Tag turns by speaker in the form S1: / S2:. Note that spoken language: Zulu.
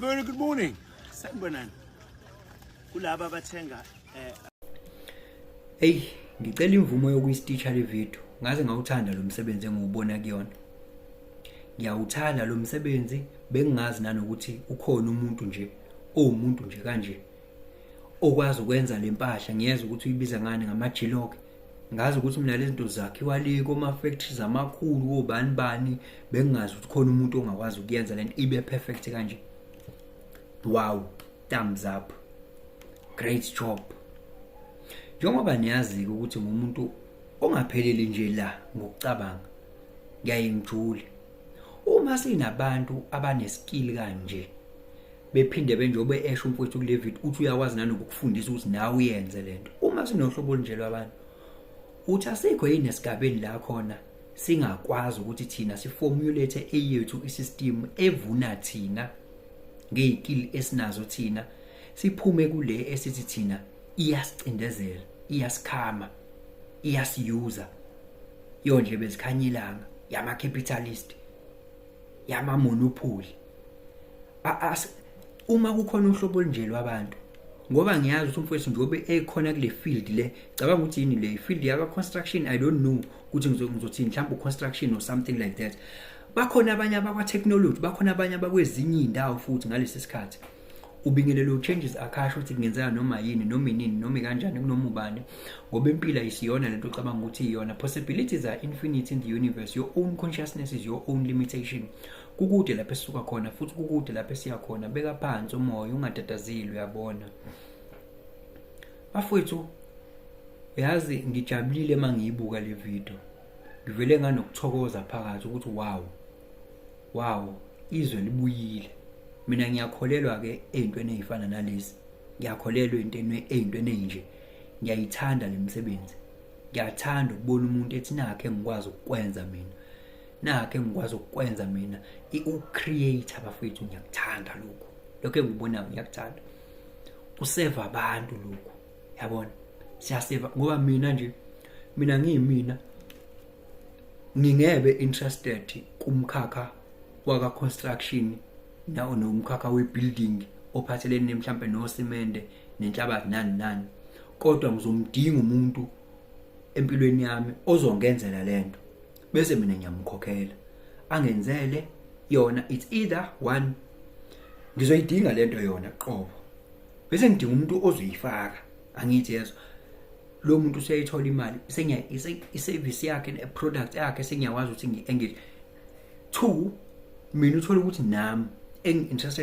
S1: Very good morning. Sanibonani. Kulaba abathenga
S2: eh Hey, ngicela imvumo yokuyistitcha le video. Ngaze ngawuthanda lo msebenzi engiwubona kuyona. Ngiyawuthanda lo msebenzi bengingazi nanokuthi ukhona umuntu nje owumuntu nje kanje. okwazi ukwenza le mpahla ngiyeza ukuthi uyibiza ngani ngamajiloke ngazi ukuthi mina lezi zinto zakhiwa le koma-factories amakhulu kobani bani bengingazi ukuthi khona umuntu ongakwazi ukuyenza le nto ibe perfect kanje wow thumbs up great job njengoba niyazi-ke ukuthi ngumuntu ongapheleli nje la ngokucabanga ngiyaye ngijule uma sinabantu abanesikili kanje bephinde benjobe esho umfowethu kuLevit uthi uyakwazi nanokufundisa ukuthi nawe uyenze lento uma sinohlobo olunje lwabantu uthi asikho yini esigabeni la khona singakwazi ukuthi thina siformulate eyethu isystem evuna thina ngeyikili esinazo thina siphume kule esithi thina iyasicindezela iyasikhama iyasiyuza yondle bezikhanyilanga yama capitalist yamamonopoly uma kukhona uhlobo olunje lwabantu ngoba ngiyazi ukuthi umfowethu njengoba ekhona kule field le cabanga ukuthi yini le field yaka construction i don't know ukuthi ngizothini mhlawumbe construction or something like that bakhona abanye abakwa technology bakhona abanye abakwezinye izindawo futhi ngalesi sikhathi ubingelele uchanges akasho ukuthi kungenzeka noma yini noma inini noma ikanjani kunoma ubani ngoba impilo ayisiyona lento ocabanga ukuthi iyona possibilities are infinite in the universe your own consciousness is your own limitation kukude lapho esisuka khona futhi kukude lapho esiya khona beka phansi umoya ungatatazile uyabona bafowethu yazi ngijabulile uma ngiyibuka le video ngivele nganokuthokoza phakathi ukuthi wow wow izwe libuyile mina ngiyakholelwa ke ezintweni ezifana nalezi ngiyakholelwa entweni ezintweni ezinje ngiyayithanda lemisebenzi ngiyathanda ukubona umuntu ethi nakhe ngikwazi ukukwenza mina nakhe ngikwazi ukukwenza mina i-ucreate abafethu ngiyakuthanda lokhu lokho engikubonayo ngiyakuthanda kuseva abantu lokhu yabona siyaseva ngoba mina nje mina ngiyimina ngingebe interested kumkhakha waka construction nawo nomkhakha we building ophathelene mhlambe no cement nenhlabathi nani nani kodwa ngizomdinga umuntu empilweni yami ozongenzela lento bese mina ngiyamkhokhela angenzele yona it's either one ngizoyidinga lento yona qobo bese ngidinga umuntu ozoyifaka angithi yezwa lo muntu useyithola imali sengiya iservice yakhe ne product yakhe sengiyawazi ukuthi ngi engage two mina uthola ukuthi nami engi interested